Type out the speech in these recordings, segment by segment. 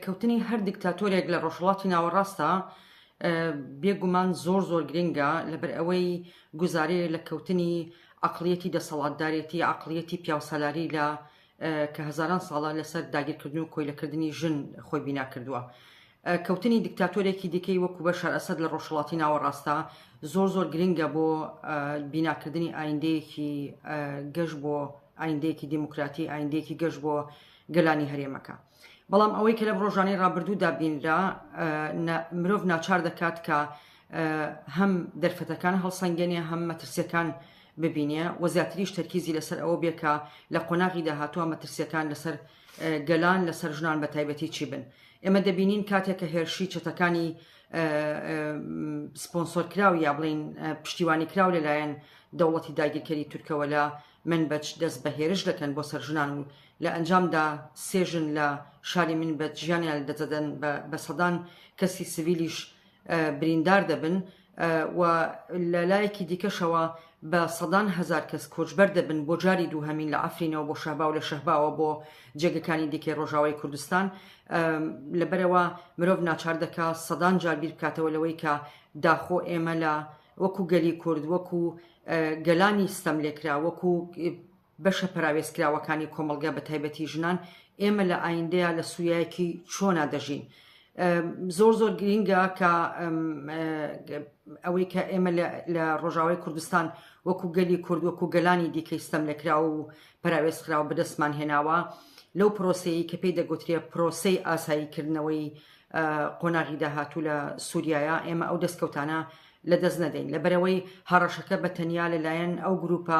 کەوتنی هەر دیکتاتۆرێک لە ڕۆژهەڵاتی ناوەڕاستدا بێ گومان زۆر زۆر گرنگە لەبەر ئەوەی گوزارەیە لە کەوتنی عەقڵیەتی دەسەڵاتدارێتی عەقڵیەتی پیاوسالاری لە کە هەزاران ساڵە لەسەر داگیرکردن و کۆیلەکردنی ژن خۆی بینا کردووە. کەوتنی دیکتاتۆرێکی دیکەی وەکو بە شارئەسەد لە ڕۆژهڵاتی ناوەڕاستە زۆر زۆر گرنگە بۆ بیناکردنی ئایندەیەکی گەشت بۆ ئایندەیەکی دیموکراتی ئایندەیەکی گەشت بۆ گەلانی هەرێمەکە. بەڵام ئەوەی کە لەم ڕۆژانەی ڕابردوودا بینرا مرۆڤ ناچار دەکات کە هەم دەرفەتەکان هەڵسەنگێنێ هەم مەترسیەکان ببینێ و زیاتریش تەرکیزی لەسەر ئەوە بێ کە لە قۆناغی داهاتوە مەترسیەکان لەسەر گەلان لەسەر ژنان بە تایبەتی چی بن ئێمە دەبینین کاتێک کە هێرشی چەتەکانی سپۆنسۆر کراو یا بڵین پشتیوانی کراو لەلایەن دەوڵەتی داگیرکەری تورکەوە لە من بەچ دەست بە هێرش دەکەن بۆ سەر ژنان و لە ئەنجامدا سێ ژن لە شاری منبج ژیانیان لەدەستدەدەن و بە سەدان کەسی سڤیلیش بریندار دەبن و لە لایەکی دیکەشەوە بە سەدان هەزار کەس کۆچبەر دەبن بۆ جاری دووهەمین لە عەفرینەوە بۆ شەهبا و لە شەهباوە بۆ جێگەکانی دیکەی ڕۆژاوای کوردستان لەبەرەوە مرۆڤ ناچار دەکا سەدان جار بیر بکاتەوە لەوەی کە داخۆ ئێمە لە وەکو گەلی کورد وەکو گەلانی ستەم لێکرا وەکو بەشە پەراوێزکراوەکانی کۆمەڵگا بەتایبەتی ژنان، ئێمە لە ئایندەیا لە سوریایەکی چۆنا دەژین؟ زۆر زۆر گرینگە کە ئەوەی کە ئێمە لە ڕۆژاوای کوردستان وەکو گەلی کورد وەکو گەلانی دیکەی ستەم لەکراو و پراوێز خراو بەدەستمان هێناوە لەو پرۆسەیە کە پێی دەگوترێ پرۆسەی ئاساییکردنەوەی قۆناغی داهاتوو لە سووریایە ئێمە ئەو دەستکەوتانە لە دەست نەدەین لەبەرەوەی هەڕەشەکە بە تەنیا لەلایەن ئەو گروپە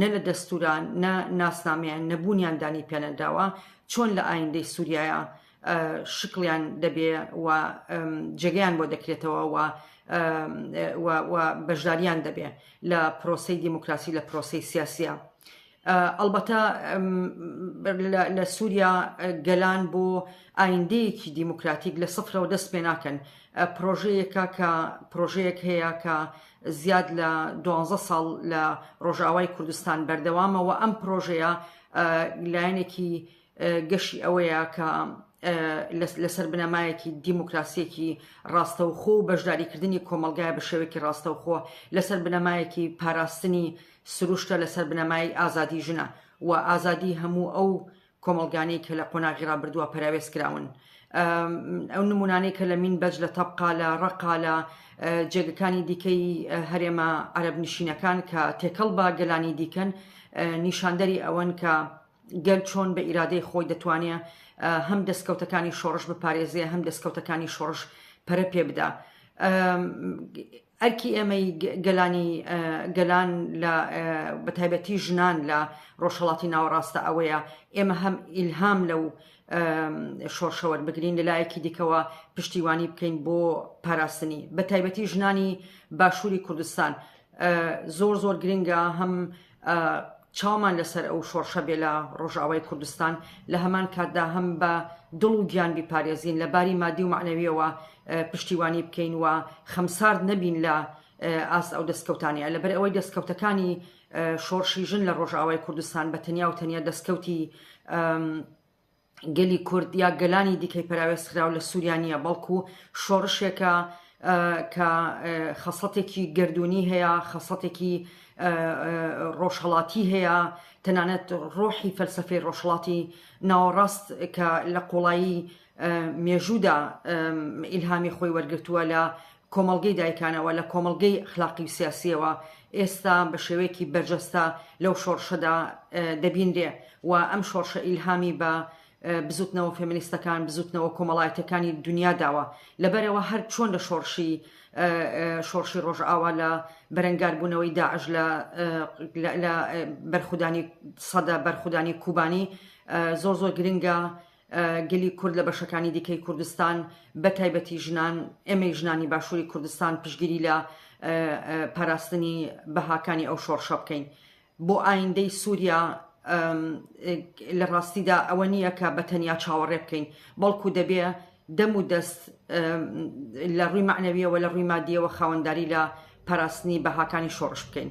نە لە دەستورا نە ناسنامەیان نە بوونیان دانی پێنەدراوە چۆن لە ئایندەی سوریایە شکڵیان دەبێ و جێگەیان بۆ دەکرێتەوە و بەشداریان دەبێ لە پرۆسی دیموکراسی لە پرۆسی سیاسە ئەلبەتە لە سووریا گەلان بۆ ئایندەیەکی دیموکراتیک لە سفرەوە دەست پێ ناکەن پرۆژەیەکە کە پرۆژەیەک هەیە کە زیاد لە دوانزە ساڵ لە ڕۆژاوای کوردستان بەردەوامە و ئەم پرۆژەیە لایەنێکی گەشی ئەوەیە کە لەسەر بنەمایەکی دیموکراسیەکی ڕاستەوخۆ و بەشداریکردنی کۆمەلگای بە شێوێکی ڕاستەوخۆ لەسەر بنەمایەکی پاراستنی سروشتە لەسەر بنەمای ئازادی ژنە و ئازادی هەموو ئەو کۆمەڵگانەی کە لە قۆناغی ڕابردووە پەراوێز کراون ئەو نمونانەی کە لە مین بەج لە تەبقا لە ڕقا لە جێگەکانی دیکەی هەرێمە عەرب نشینەکان کە تێکەڵ بە گەلانی دیکەن نیشاندەری ئەوەن کە گەل چۆن بە ئیرادەی خۆی دەتوانێت هەم دەستکەوتەکانی شۆڕش بپارێزێ هەم دەستکەوتەکانی شۆڕش پەرە پێ بدا ئەرکی ئێمەی گەلانی گەلان لە بە تایبەتی ژنان لە ڕۆژهەڵاتی ناوەڕاستە ئەوەیە ئێمە هەم ئیلهام لەو شۆڕشەوەر بگرین لە لایەکی دیکەوە پشتیوانی بکەین بۆ پاراستنی بە تایبەتی ژنانی باشووری کوردستان زۆر زۆر گرنگە هەم چاومان لەسەر ئەو شۆڕشە بێ لە ڕۆژاوای کوردستان لە هەمان کاتدا هەم بە دڵ و گیان بیپارێزین لە باری مادی و معنەویەوە پشتیوانی بکەین و خەمسارد نەبین لە ئاست ئەو دەستکەوتانەیە لەبەر ئەوەی دەستکەوتەکانی شۆڕشی ژن لە ڕۆژاوای کوردستان بە تەنیا و تەنیا دەستکەوتی گەلی کورد یا گەلانی دیکەی پەراوێزخراو لە سووریا نییە بەڵکو شۆڕشێکە کە خەسڵەتێکی گردردونی هەیە خەسڵەتێکی ڕۆژهڵاتی هەیە تەنانەت ڕۆحی فەلسفەی ڕۆژهڵاتی ناوەڕاست کە لە قوڵایی مێژوودا ئیلهامی خۆی وەرگتووە لە کۆمەڵگەی دایکانەوە، لە کۆمەڵگەی ئەخلاقی و سیاسییەوە ئێستا بە شێوەیەکی بەرجەستە لەو شۆڕشەدا دەبینرێ و ئەم شۆڕشە ئیلهامی بە بزووتنەوە فێمینیستەکان، بزووتنەوە کۆمەڵایەتییەکانی دونیا داوە. لەبەرئەوە هەر چۆن لە شۆڕشی شۆڕشی ڕۆژئاوا لە بەرەنگاربوونەوەی داعش لە لە بەرخودانی سەدە بەرخودانی کوبانی زۆر زۆر گرنگە گەلی کورد لە بەشەکانی دیکەی کوردستان بە تایبەتی ژنان ئێمەی ژنانی باشووری کوردستان پشگیری لە پاراستنی بەهاکانی ئەو شۆڕشە بکەین بۆ ئایندەی سووریا لە ڕاستیدا ئەوە نییە کە بە تەنیا چاوەڕێ بکەین بەڵکو دەبێ دەم و دەست لە ڕووی معنەویەوە لە ڕووی مادیەوە خاوەنداری لە پاراستنی بەهاکانی شۆڕش بکەین.